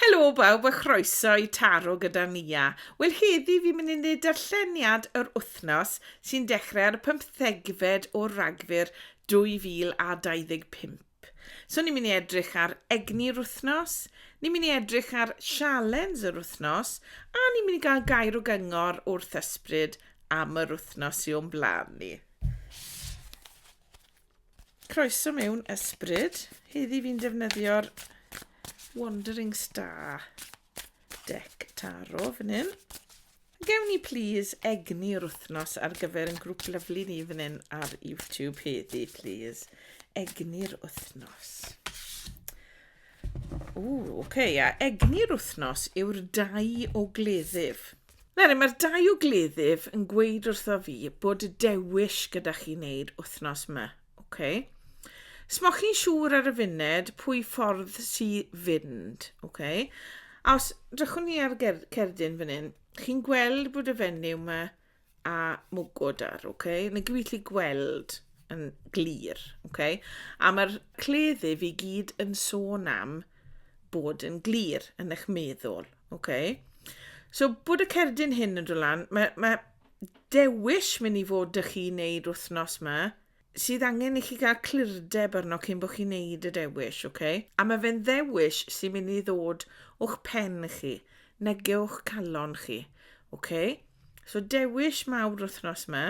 Helo bawb a chroeso i Taro gyda Nia. Wel heddi fi'n mynd i wneud darlleniad yr wythnos sy'n dechrau ar y pymthegfed o Ragfyr 2025. So ni'n mynd i edrych ar egni'r wythnos, ni'n mynd i edrych ar sialens yr wythnos a ni'n mynd i gael gair o gyngor wrth ysbryd am yr wythnos sy o'n blaen ni. Croeso mewn ysbryd. Heddi fi'n defnyddio'r Wandering Star deck taro fan hyn. Gewn ni please egni o'r wythnos ar gyfer yn grŵp lyflu ni fan hyn ar YouTube heddi please. Egni'r wythnos. Ww, oce, okay, a egni'r wythnos yw'r dau o gleddyf. Nawr, mae'r dau o gleddyf yn gweud wrtho fi bod y dewis gyda chi wneud wythnos yma. Oce. Okay. Smoch chi'n siŵr ar y funed pwy ffordd sy fynd. Oce. Okay. A os drychwn ni ar ger cerdyn fan hyn, chi'n gweld bod y fenyw yma a mwgwd ar, ok? Mae'n gallu gweld yn glir, ok? A mae'r cleddi fi gyd yn sôn am bod yn glir yn eich meddwl, ok? So, bod y cerdyn hyn yn dod lan, mae, mae dewis mynd i fod dy chi wneud wythnos yma, sydd angen i chi gael clirdeb arno cyn bod chi'n neud y dewis, ok? A mae fe'n ddewis sy'n mynd i ddod o'ch pen chi, nege o'ch calon chi, ok? So dewis mawr wythnos yma.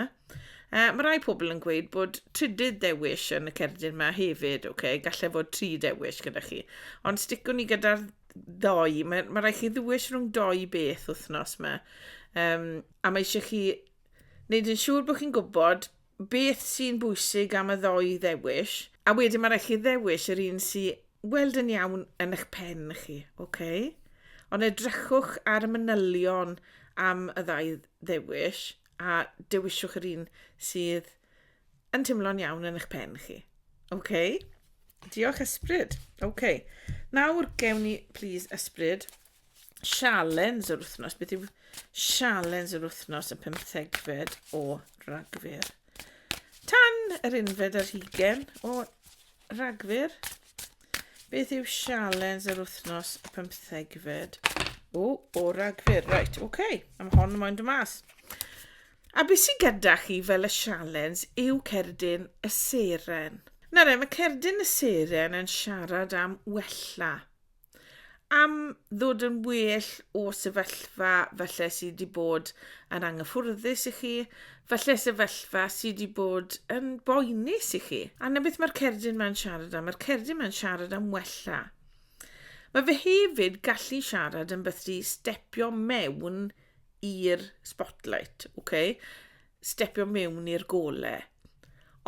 Uh, mae rai pobl yn gweud bod trydydd dewis yn y cerdyn yma hefyd, ok? Gallai fod tri dewis gyda chi. Ond sticwn ni gyda'r ddoi, mae, mae rhaid chi ddewis rhwng doi beth wythnos yma. Um, a mae eisiau chi wneud yn siŵr bod chi'n gwybod beth sy'n bwysig am y ddoi ddewis, a wedyn mae rhaid chi ddewis yr un sy'n weld yn iawn yn eich pen chi, oce? Okay? Ond edrychwch ar y manylion am y ddau ddewis a dewiswch yr un sydd yn teimlo'n iawn yn eich pen chi. Oce? Okay? Diolch ysbryd. Oce. Okay. Nawr gewn ni, please, ysbryd. sialens yr wythnos. Beth yw sialens yr wythnos y pymthegfed o Ragfyr? Tan yr unfed ar hugen o Ragfyr, beth yw sialens yr wythnos y pymthegfed o, o Ragfyr? Right, oce, okay. am hon yn moyn dy mas. A beth sy'n gyda chi fel y sialens yw cerdyn y seren. Na re, mae cerdyn y seren yn siarad am wella. am ddod yn well o sefyllfa falle sydd wedi bod yn anghyffwrddus i chi, falle sefyllfa sydd wedi bod yn boenus i chi. A na beth mae'r cerdyn mae'n siarad am, mae'r cerdyn mae'n siarad am wella. Mae fe hefyd gallu siarad yn beth di stepio mewn i'r spotlight, okay? stepio mewn i'r gole.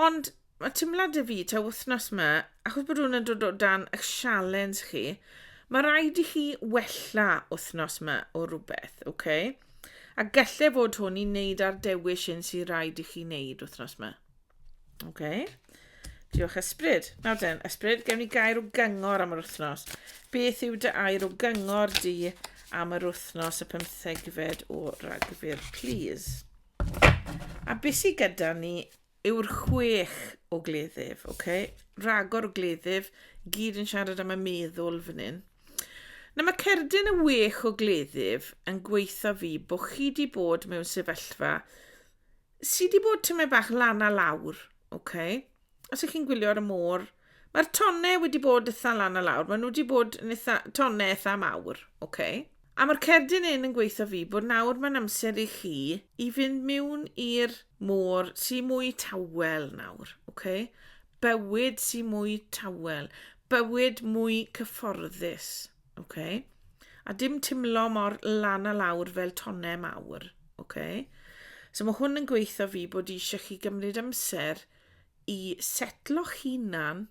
Ond Mae teimlad y fi, ta wythnos yma, achos bod hwn yn dod o dan y sialens chi, mae rhaid i chi wella wythnos yma o rhywbeth, oce? Okay? A gallai fod hwn i wneud ar dewis un sy'n rhaid i chi wneud wythnos yma. Oce? Okay? Diolch ysbryd. Nawr den, ysbryd, gewn ni gair o gyngor am yr wythnos. Beth yw dy air o gyngor di am yr wythnos y pymthegfed o Ragfyr, please? A beth sydd gyda ni yw'r chwech o gleddyf, ok? Ragor o gleddyf, gyd yn siarad am y meddwl fan hyn. Na mae cerdyn y wech o gleddyf yn gweitha fi bod chi di bod mewn sefyllfa sydd wedi bod tymed bach lan a lawr, ok? Os ych chi'n gwylio ar y môr, Mae'r tonne wedi bod eitha lan a lawr. Maen nhw wedi bod yn eitha, tonne eitha mawr. Okay. A mae'r cerdyn un yn gweithio fi bod nawr mae'n amser i chi i fynd miwn i'r môr sy'n mwy tawel nawr. Okay. Bywyd sy'n mwy tawel. Bywyd mwy cyfforddus. Okay. A dim timlo mor lan a lawr fel tonne mawr. Okay. So mae hwn yn gweithio fi bod eisiau chi gymryd amser i setlo'ch hunan,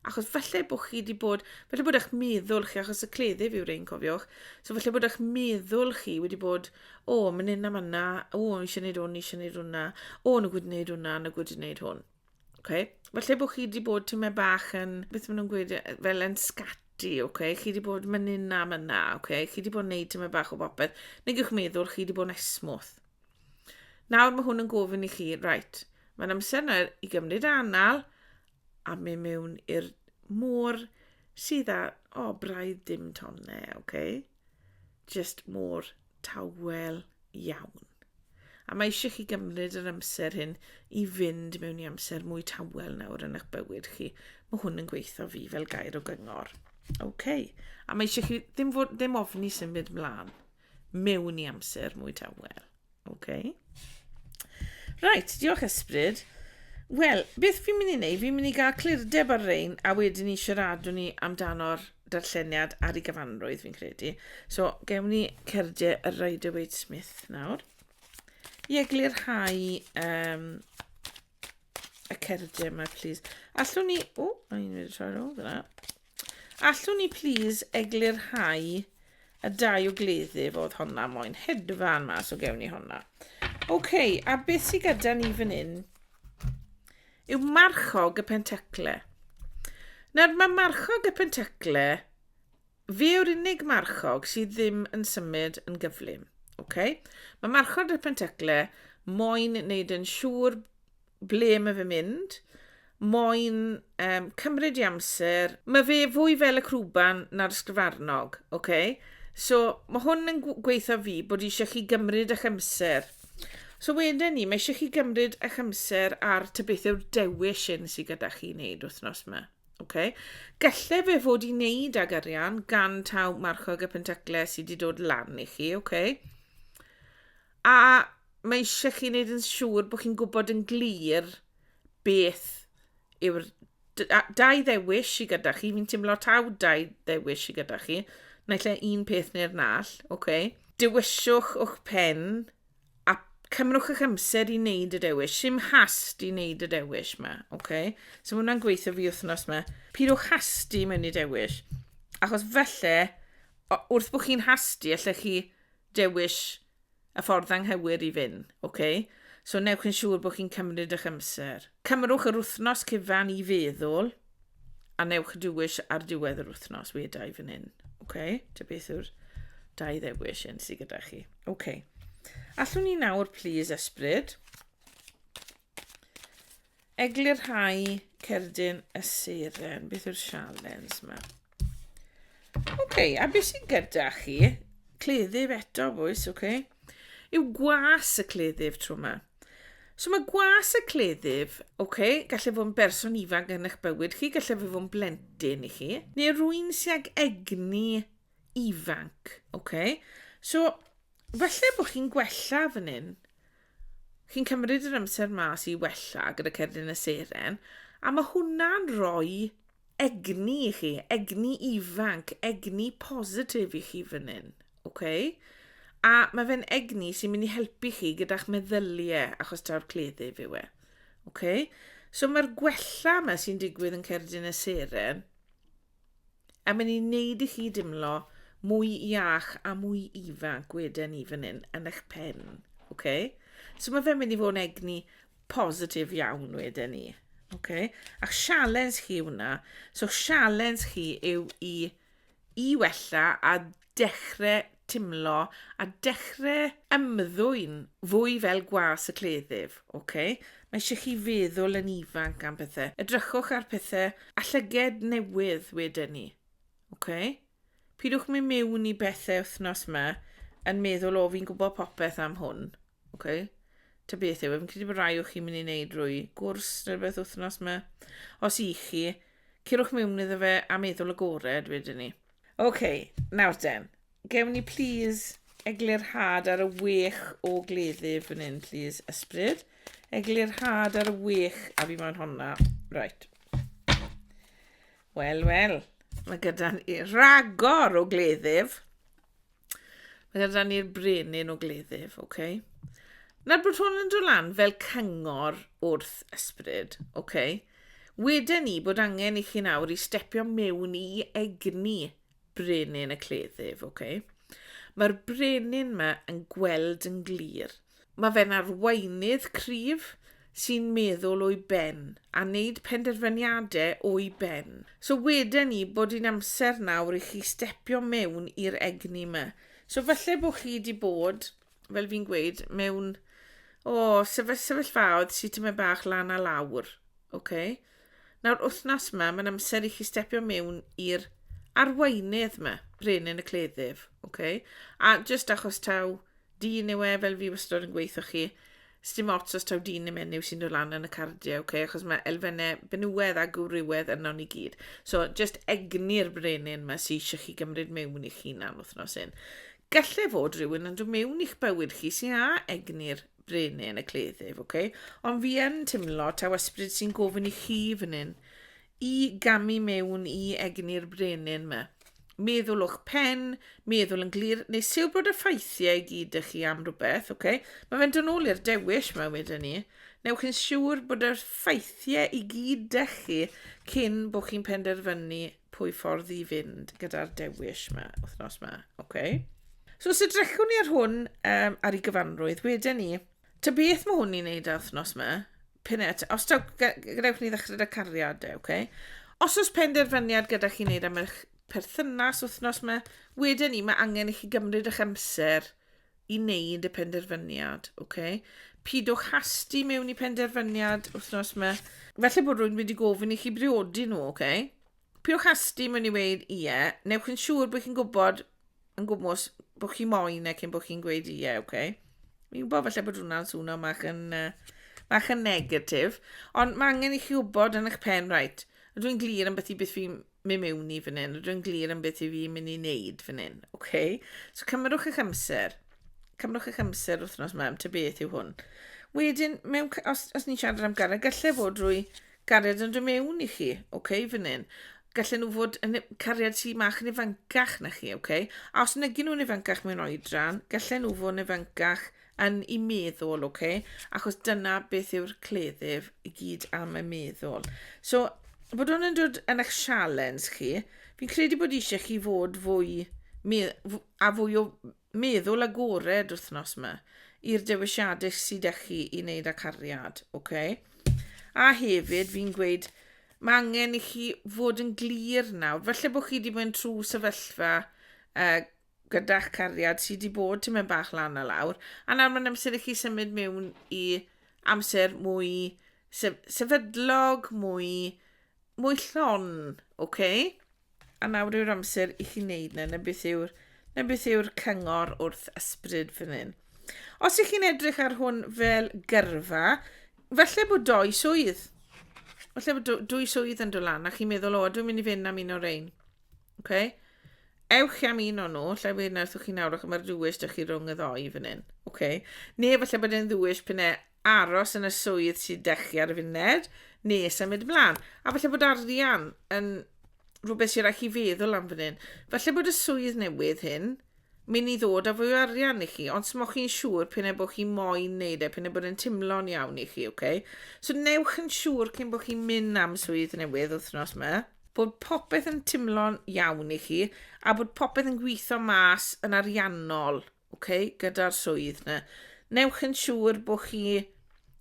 achos falle bod chi wedi bod, falle bod eich meddwl chi, achos y cleddyf yw'r ein cofiwch, so falle bod eich meddwl chi wedi bod, o, oh, mynd yna, yna, o, oh, eisiau gwneud hwn, eisiau gwneud hwnna, o, oh, nhw gwyd wneud hwnna, nhw gwyd wneud hwn. Okay? Falle bod chi wedi bod tyma bach yn, beth maen nhw'n gweud, fel yn scati, okay? chi wedi bod mynd yna, yna, okay? chi wedi bod yn gwneud tyma bach o bopeth, neu gych meddwl chi wedi bod yn esmwth. Nawr mae hwn yn gofyn i chi, right, mae'n amser nawr i gymryd anal a mynd mewn i'r môr sydd â, o, oh, braidd dim tonne, oce? Okay? Just môr tawel iawn. A mae eisiau chi gymryd yr amser hyn i fynd mewn i amser mwy tawel nawr yn eich bywyd chi. Mae hwn yn gweithio fi fel gair o gyngor. Oce. Okay. A mae eisiau chi ddim, fod, ddim ofni symud mlaen. mewn i amser mwy tawel. OK. Right, diolch ysbryd. Wel, beth fi'n mynd i wneud? Fi'n mynd i gael clirdeb ar rein a wedyn ni siaradwn ni amdano'r darlleniad ar ei gyfanrwydd fi'n credu. So, gewn ni cerdau y Rider Waite Smith nawr. I eglurhau um, y cerdau yma, please. Allwn ni... O, oh, i'n mynd i troi rôl fyna. Allwn ni plîs eglurhau y dau o gleddyf oedd honna moyn hedfan mas o gewn i honna. OK, a beth sydd gyda ni fan hyn yw marchog y pentacle. Nawr mae marchog y pentacle fe yw'r unig marchog sydd ddim yn symud yn gyflym. Okay? Mae marchog y pentacle moyn wneud yn siŵr Ble mae fe mynd? Moyn um, cymryd i amser. Mae fe fwy fel y crwban na'r sgrifarnog, oce? Okay? So, mae hwn yn gweithio fi bod eisiau chi gymryd eich amser. So wedyn ni, mae eisiau chi gymryd eich amser ar ty beth yw'r dewis hyn sydd gyda chi wneud wythnos yma. Okay. Gallai fe fod i wneud ag arian gan taw marchog y pentaclau sydd wedi dod lan i chi. Okay. A mae eisiau chi wneud yn siŵr bod chi'n gwybod yn glir beth yw'r dau ddewis i gyda chi. Fi'n teimlo taw dau ddewis i gyda chi. Naill e un peth neu'r nall, oce. Okay. Dewiswch o'ch pen a cymrwch eich amser i wneud y dewis. Sim hast i wneud y dewis yma, oce. Okay. So mae hwnna'n gweithio fi wythnos yma. Pidwch hasti mewn i dewis. Achos felly, wrth bod chi'n hasti, allech chi dewis y ffordd anghywir i fynd, ok? So newch yn siŵr bod chi'n cymryd eich amser. Cymrwch yr wythnos cyfan i feddwl a newch dewis ar diwedd yr wythnos, we dau fan hyn. Ok, ta beth yw'r dau ddewis hyn sydd gyda chi. Ok. Allwn ni nawr, please, ysbryd. Eglurhau cerdyn y seren. Beth yw'r sialens yma? Oce, okay, a beth sy'n gyda chi? Cleddyf eto, bwys, oce. Okay. Yw gwas y cleddyf tro yma. So mae gwas y cleddyf, oce, okay, gallu fod yn berson ifanc yn eich bywyd chi, gallu fod yn blentyn i chi, neu rwy'n sy'n ag egni ifanc, ok? So, falle bod chi'n gwella fan hyn. Chi'n cymryd yr amser mas i wella gyda cerdyn y seren, a mae hwnna'n rhoi egni i chi, egni ifanc, egni positif i chi fan hyn, ok? A mae fe'n egni sy'n mynd i helpu chi gyda'ch meddyliau achos taw'r cleddyf yw e. Okay? So mae'r gwella yma sy'n digwydd yn cerdyn y seren A mae'n ei wneud i chi dimlo mwy iach a mwy ifanc gweden ni fan hyn yn eich pen. Okay? So mae fe'n mynd i fod yn egni positif iawn wedyn ni. Okay? A sialens chi hwnna. So sialens chi yw i i wella a dechre timlo a dechre ymddwyn fwy fel gwas y cleddyf, ok? Mae eisiau chi feddwl yn ifanc am pethau. Edrychwch ar pethau a llyged newydd wedyn ni, ok? Pidwch mynd mewn i bethau wythnos yma yn meddwl, o fi'n gwybod popeth am hwn, ok? Ta beth yw, e, fi'n credu bod rai o chi'n mynd i wneud rwy gwrs neu rhywbeth wythnos yma. Os i chi, curwch mewn iddo fe a meddwl agored wedyn ni. OK, nawr te. Gewn ni please eglurhad ar y wych o gleddu fan hyn, please, ysbryd. Eglurhad ar y wych a fi moyn honna. Right. Wel, wel. Mae gyda ni ragor o gleddyf. Mae gyda ni'r brenin o gleddyf, oce? Okay? Nawr bod hwn yn dod lan fel cyngor wrth ysbryd, oce? Okay? Weden ni bod angen i chi nawr i stepio mewn i egni brenin y cleddyf, oce? Okay? Mae'r brenin yma yn gweld yn glir – Mae fe'n arweinydd cryf sy'n meddwl o'i ben a wneud penderfyniadau o'i ben. So weden ni bod hi'n amser nawr i chi stepio mewn i'r egni yma. So falle bod chi wedi bod, fel fi'n gweud, mewn o, sefyll, sefyllfaoedd sydd tymed bach lan a lawr. Okay? Nawr, wythnos yma, mae'n amser i chi stepio mewn i'r arweinydd yma, brenin y cleddyf. Okay? A just achos taw Dyn yw e fel fi wastod yn gweithio chi. Sdim ots os taw dyn neu menyw sy'n dod lan yn y cardiau, okay? achos mae elfennau benywedd a gwrywedd yno ni gyd. So, just egni'r brenin yma sy'n eisiau chi gymryd mewn i chi na'n wythnos un. Gallai fod rhywun yn dod mewn i'ch bywyd chi sy'n a egni'r brenin y cleddyf, okay? ond fi yn timlo taw ysbryd sy'n gofyn i chi fan hyn i gamu mewn i egni'r brenin ma. Meddwl o'ch pen, meddwl yn glir, neu siw bod y ffeithiau i gyd ych chi am rhywbeth, oce? Okay? Mae fe'n dod nôl i'r dewis mae wedi ni. Newch chi'n siŵr bod yr ffeithiau i gyd ych chi cyn bod chi'n penderfynu pwy ffordd i fynd gyda'r dewis yma, wythnos yma, oce? Okay? So, os edrychwn ni ar hwn um, ar ei gyfanrwydd, wedyn ni, Ta beth mae hwn ni'n neud ar wythnos yma, p'un et, os taw, gadewch ni ddechrau da cariadau, oce? Os oes penderfyniad gyda chi'n neud am eich perthynas wythnos yma, wedyn ni mae angen i chi gymryd eich amser i neud y penderfyniad, oce? Pidwch hasti mewn i penderfyniad wythnos yma. Felly bod rwy'n wedi gofyn i chi briodi nhw, oce? Piwch asti mewn i weud ie, newch yn siŵr bod chi'n gwybod yn gwmwys bod chi moyn e cyn bod chi'n gweud ie, oce? Okay? Fi'n gwybod falle bod hwnna'n swno mach yn, uh, mach yn negatif, ond mae angen i chi wybod yn eich pen, right, ydw i'n glir am beth i beth fi'n mynd mewn i fan hyn, ydw i'n glir am beth i fi'n mynd i wneud fan hyn, oce? Okay? So cymrwch eich amser, cymrwch eich amser wythnos yma, am ty beth yw hwn. Wedyn, mewn, os, os ni'n siarad am garreg, gallai fod drwy Gariad yn dod mewn i chi, ok, fan hyn. Gallen nhw fod yn cariad sy'n mach yn ifancach na chi, ok? A os negi nhw'n ifancach mewn oedran, gallen nhw fod yn ifancach yn i meddwl, ok? Achos dyna beth yw'r cleddyf i gyd am y meddwl. So, bod hwn yn dod yn eich sialens chi, fi'n credu bod eisiau chi fod fwy a fwy o Meddwl agored wthnos ma i'r dewisiade sy da chi i wneud â cariad, ok? A hefyd fi'n gweud mae angen i chi fod yn glir nawr. Falle bod chi wedi bod yn trwy sefyllfa uh, gyda'ch cariad sydd wedi bod ti'n mynd bach lan a lawr. A nawr mae'n amser i chi symud mewn i amser mwy sef sefydlog, mwy, mwy llon, ok? A nawr yw'r amser i chi wneud na, na beth yw'r na beth yw'r cyngor wrth ysbryd fan hyn. Os ych chi'n edrych ar hwn fel gyrfa, falle bod doi swydd. Falle bod dwy swydd yn dod lan, a chi'n meddwl, o, dwi'n mynd i fynd am un o'r ein. Okay? ewch am un o'n nhw, lle fe wnaethoch chi nawr, ac mae'r ddwys dych chi rhwng y ddoi fan hyn. Okay. Neu falle bod e'n ddwys pan e aros yn y swydd sy'n dechu ar y funud, neu symud ymlaen. A falle bod arian yn rhywbeth sy'n rhaid chi feddwl am fan hyn. Falle bod y swydd newydd hyn mynd i ddod â fwy o arian i chi, ond smoch chi'n siŵr pyn e bod chi moyn neud e, pyn e bod yn timlo'n iawn i chi, oce? Okay? So newch yn siŵr cyn bod chi'n mynd am swydd newydd wythnos yma, bod popeth yn timlo'n iawn i chi, a bod popeth yn gweithio mas yn ariannol OK, gyda'r swydd na. Newch yn siŵr bod chi,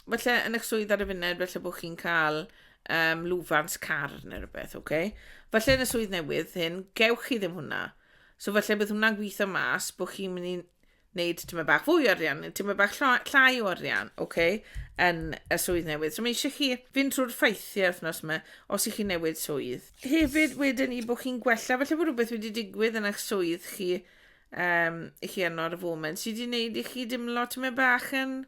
felly yn eich swydd ar y funed, felly bod chi'n cael um, lwfans car neu rhywbeth, OK? Felly yn y swydd newydd hyn, gewch chi ddim hwnna. So felly bydd hwnna'n gweithio mas bod chi'n mynd i wneud tyma bach fwy o arian, neu tyma bach llai o arian, oce, okay, yn y swydd newydd. So mae eisiau chi fynd trwy'r ffeithiau wythnos yma, os ych chi newid swydd. Hefyd, wedyn i bod chi'n gwella, felly bod rhywbeth wedi digwydd yn eich swydd chi, um, i chi arno ar y foment sydd wedi gwneud i chi dimlo tyma bach yn...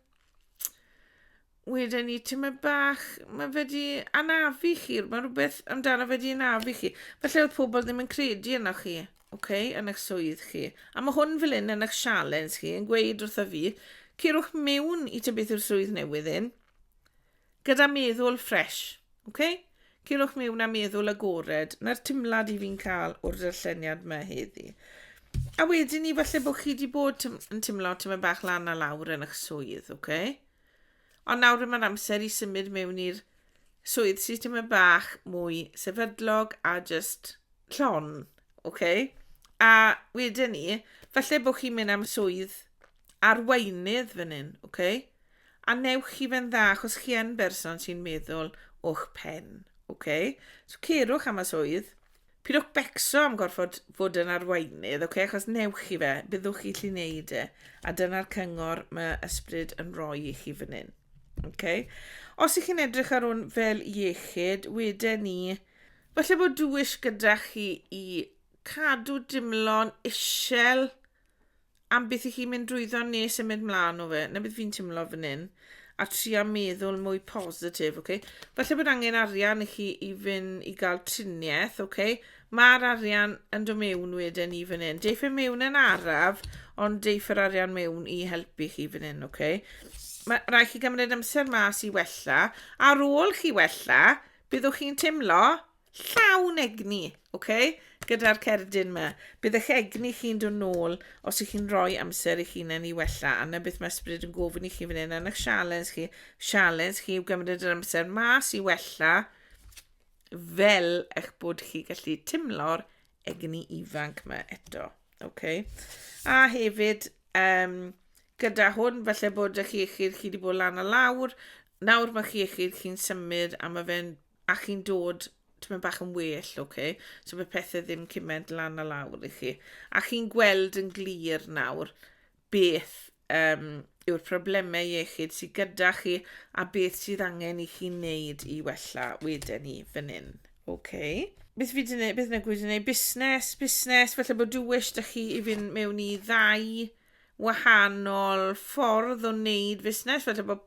Wedyn ni tyma bach, mae fe wedi anafu chi, mae rhywbeth amdano fe wedi anafu chi. Felly oedd pobl ddim yn credu yna chi, okay, yn eich swydd chi. A mae hwn fel un yn eich sialens chi yn gweud wrtho fi, ceirwch mewn i tybeth yw'r swydd newydd un. Gyda meddwl ffresh, ok? Cylwch miwn a meddwl agored, na'r timlad i fi'n cael o'r darlleniad mae heddi. A wedyn ni, falle bod chi wedi bod yn timlo ti'n mynd bach lan a lawr yn eich swydd, ok? Ond nawr yma'r amser i symud mewn i'r swydd sydd ti'n mynd bach mwy sefydlog a just llon, ok? A wedyn ni, falle bod chi'n mynd am swydd arweinydd fan hyn, ok? A newch chi fe'n dda, achos chi yn berson sy'n meddwl o'ch pen, ok? So cerwch am y swydd, pidwch becso am gorfod fod yn arweinydd, ok? Achos newch chi fe, byddwch chi lli wneud e. A dyna'r cyngor mae ysbryd yn rhoi i chi fan hyn, ok? Os ych chi'n edrych ar hwn fel iechyd, wedyn ni, falle bod dwys gyda chi i cadw dimlo'n isel, am beth i chi mynd drwyddo ne symud mlaen o fe. Na beth fi'n timlo fan hyn. A tria meddwl mwy positif, oce? Okay? Falle bod angen arian i chi i fynd i gael triniaeth, oce? Okay? Mae'r arian yn dod mewn wedyn i fan hyn. Deiff e mewn yn araf, ond deiff yr arian mewn i helpu chi fan hyn, oce? Okay? Mae rhaid chi gymryd amser mas i wella. Ar ôl chi wella, byddwch chi'n timlo llawn egni, oce, gyda'r cerdyn yma. Bydd eich egni chi'n dod nôl os ych chi'n rhoi amser eich hunain i wella, a na beth mae ysbryd yn gofyn i chi fan hyn, a eich sialens chi, sialens chi yw gymryd yr amser mas i wella, fel eich bod chi gallu timlo'r egni ifanc yma eto, oce. A hefyd, um, gyda hwn, falle bod ych iechyd chi wedi bod lan a lawr, nawr mae chi iechyd chi'n symud a mae fe'n a chi'n dod tymed bach yn well, oce? So mae pethau ddim cymaint lan a lawr i chi. A chi'n gweld yn glir nawr beth um, yw'r problemau iechyd sydd gyda chi a beth sydd angen i chi wneud i wella wedyn ni fan hyn. Oce? Beth fi wedi gwneud? Beth yna gwyd wedi gwneud? Busnes, busnes, felly bod dywys da chi i fynd mewn i ddau wahanol ffordd o wneud fusnes, falle bod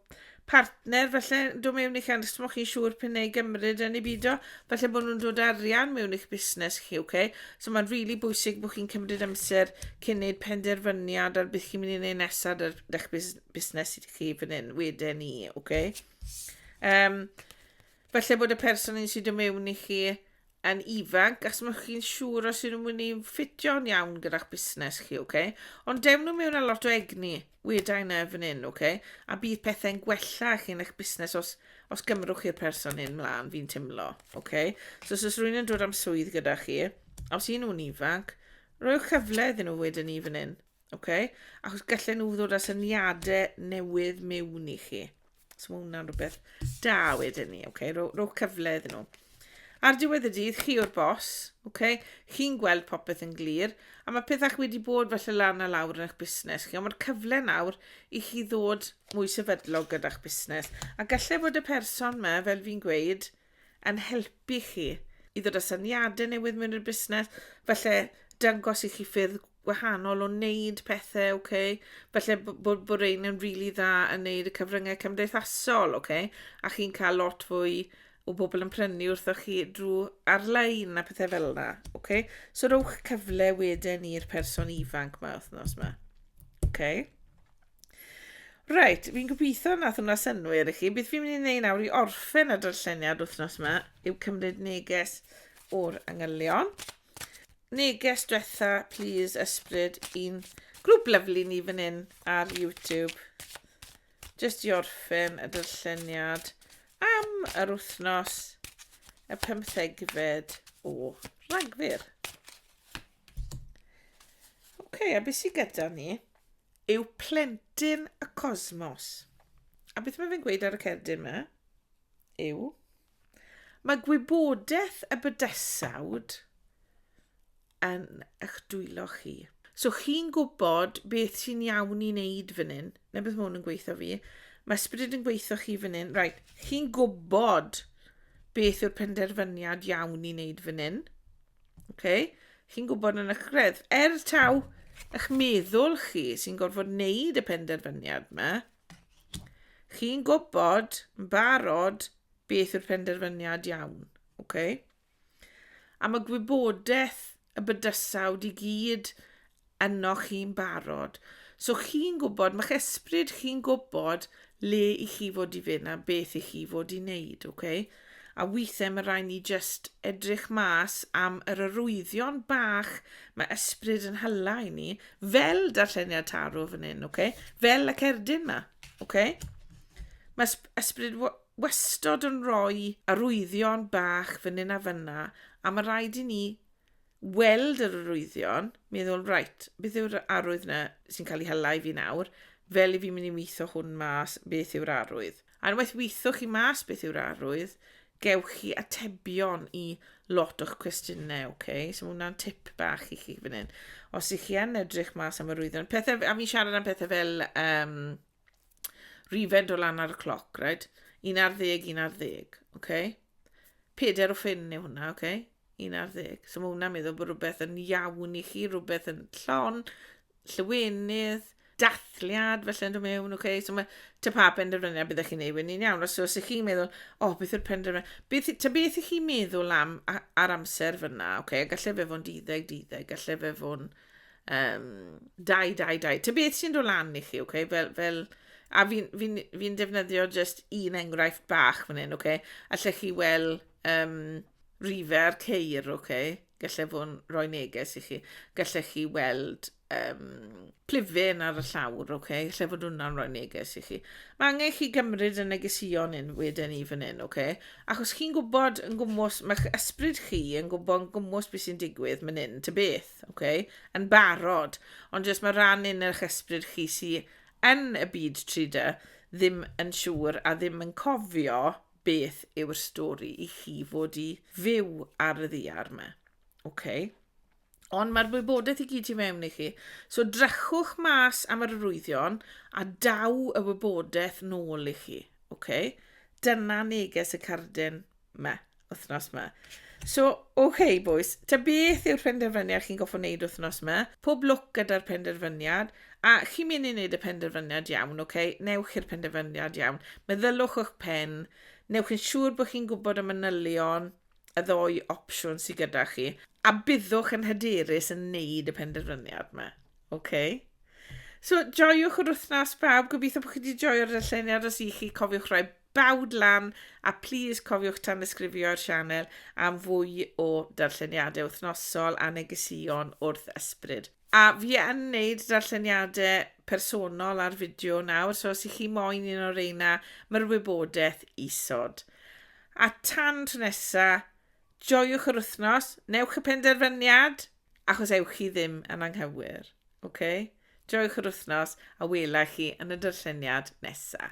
partner falle dod mewn i'ch anrys moch chi'n siŵr pyn ei gymryd yn ei bido, falle bod nhw'n dod arian mewn i'ch busnes chi, ok? So mae'n rili really bwysig bod chi'n cymryd amser cyn wneud penderfyniad ar beth chi'n mynd i wneud nesaf ar eich busnes i chi fan hyn, wedyn ni, ok? Um, falle bod y person sy'n dod mewn i chi yn ifanc, achos mae chi'n siŵr os yw'n mynd i ffitio'n iawn gyda'ch busnes chi, oce? Okay? Ond dewn nhw mewn â lot o egni, weda i na fan hyn, oce? Okay? A bydd pethau'n gwella chi yn eich busnes os, os gymrwch chi'r person hyn mlaen, fi'n timlo, oce? Okay? So, os rwy'n yn dod am swydd gyda chi, os un nhw'n ifanc, rwy'ch cyfle iddyn nhw wedyn ni fan hyn. Ok, achos gallen nhw ddod â syniadau newydd mewn i chi. So mae hwnna'n rhywbeth da wedyn ni, ok, rho, rho cyfle iddyn nhw. Ar diwedd y dydd, chi o'r bos, ok, chi'n gweld popeth yn glir, a mae pethau chi wedi bod felly lan a lawr yn eich busnes chi, ond mae'r cyfle nawr i chi ddod mwy sefydlog gyda'ch busnes. A gallai bod y person yma, fel fi'n gweud, yn helpu chi i ddod â syniadau newydd mewn i'r busnes, falle dangos i chi ffyrdd gwahanol o wneud pethau, ok? Falle bod, bod ein yn rili really dda yn wneud y cyfryngau cymdeithasol, ok? A chi'n cael lot fwy o bobl yn prynu wrtho chi drwy ar-lein a pethau fel yna, ok? So rhowch cyfle wedyn i'r person ifanc mae wythnos yma, ok? Reit, fi'n gobeithio nath hwnna synwyr i chi. Beth fi'n mynd i wneud nawr i orffen y darlleniad wythnos yma yw cymryd neges o'r angylion. Neges diwetha, please, ysbryd, i'n grŵp lyflu ni fan hyn ar YouTube. Just i orffen y darlleniad am yr wythnos y pymthegfed o Ragfyr. OK, a beth sydd gyda ni? yw plentyn y cosmos. A beth mae fe'n gweud ar y cerdyn yma yw, mae gwybodaeth y bydesawd yn eich dwylo chi. So chi'n gwybod beth sy'n iawn i wneud fan hyn. Na beth mae hwn yn gweithio fi. Mae ysbryd yn gweithio chi fan hyn. Right, chi'n gwybod beth yw'r penderfyniad iawn i wneud fan hyn. Oce? Chi'n gwybod yn eich greddf. Er taw eich meddwl chi sy'n gorfod wneud y penderfyniad yma, chi'n gwybod yn barod beth yw'r penderfyniad iawn. Oce? A mae gwybodaeth y bydysawd i gyd ynoch chi'n barod. So chi'n gwybod, mae'ch esbryd chi'n gwybod le i chi fod i fynd a beth i chi fod i wneud, oce? Okay? A weithiau mae rhaid ni just edrych mas am yr arwyddion bach mae esbryd yn hylla i ni, fel darlleniad tarw fan hyn, oce? Okay? Fel y cerdyn ma, oce? Okay? Mae esbryd wastod yn rhoi arwyddion bach fan hyn a fanna, a mae rhaid i ni weld yr arwyddion, meddwl, right, beth yw'r arwydd na sy'n cael ei hela i fi nawr, fel i fi mynd i weithio hwn mas, beth yw'r arwydd. A unwaith weithio chi mas beth yw'r arwydd, gewch chi atebion i lot o'ch cwestiynau, oce? Okay? So mae hwnna'n tip bach i chi fan hyn. Os ych chi yn edrych mas am arwyddion, pethau, a fi'n siarad am pethau fel um, Rhifed o lan ar y cloc, right? Un ar ddeg, un ar ddeg, oce? Okay? Peder o ffyn yw hwnna, oce? Okay? Un ar ddeg. So mae hwnna'n meddwl bod rhywbeth yn iawn i chi, rhywbeth yn llon, llywenydd, dathliad felly yn dod mewn, oce? Okay? So mae ta pa penderfyniad byddwch chi'n ei wneud iawn. Os ydych chi'n meddwl, o, oh, beth yw'r penderfyniad? Beth, ta beth ych chi'n meddwl am ar amser fyna, oce? Okay? Gallai fe fod yn 12, 12, gallai fe fod yn Um, dau, dau, dau. Ty beth sy'n dod lan i chi, okay? fel, fel, a fi'n fi, fi, fi defnyddio just un enghraifft bach fan hyn, okay? allech chi weld um, rifer ceir, okay? gallai fod yn rhoi neges i chi, gallech chi weld um, plifyn ar y llawr, okay? lle fod hwnna'n rhoi neges i chi. Mae angen chi gymryd y negesion yn wedyn i fan hyn, okay? achos chi'n gwybod yn gwmwys, mae'ch ysbryd chi yn gwybod yn gwmwys beth sy'n digwydd fan hyn, ty beth. ok, yn barod, ond jyst mae rhan un eich ysbryd chi sy yn y byd 3D ddim yn siŵr a ddim yn cofio beth yw'r stori i chi fod i fyw ar y ddiar yma. Okay. Ond mae'r wybodaeth i gyd i mewn i chi. So drychwch mas am yr arwyddion a daw y wybodaeth nôl i chi. Okay? Dyna neges y cardyn. 'ma, wythnos 'ma. So, oce okay, boys, ta beth yw'r penderfyniad chi'n goffo wneud wythnos 'ma? Pob lwc gyda'r penderfyniad, a chi'n mynd i wneud y penderfyniad iawn, oce? Okay? Newch i'r penderfyniad iawn. Meddylwch o'ch pen, newch yn siŵr bod chi'n gwybod y manylion, y ddoi opsiwn sydd gyda chi, a byddwch yn hyderus yn wneud y penderfyniad yma, oce? Okay? So, joiwch yr wythnos bawb, gobeithio bod chi wedi joio'r darlleniad os i chi cofiwch rhoi Bawd lan, a plîs cofiwch tanysgrifio'r sianel am fwy o darlleniadau wythnosol a negesïon wrth ysbryd. A fi yn neud darlleniadau personol ar fideo nawr, so os i chi moyn un o reina, mae'r wybodaeth isod. A tan tro nesa, joiwch yr wythnos, newch y penderfyniad, achos ewch chi ddim yn anghywir, ok? Joiwch yr wythnos a wela chi yn y darlleniad nesa.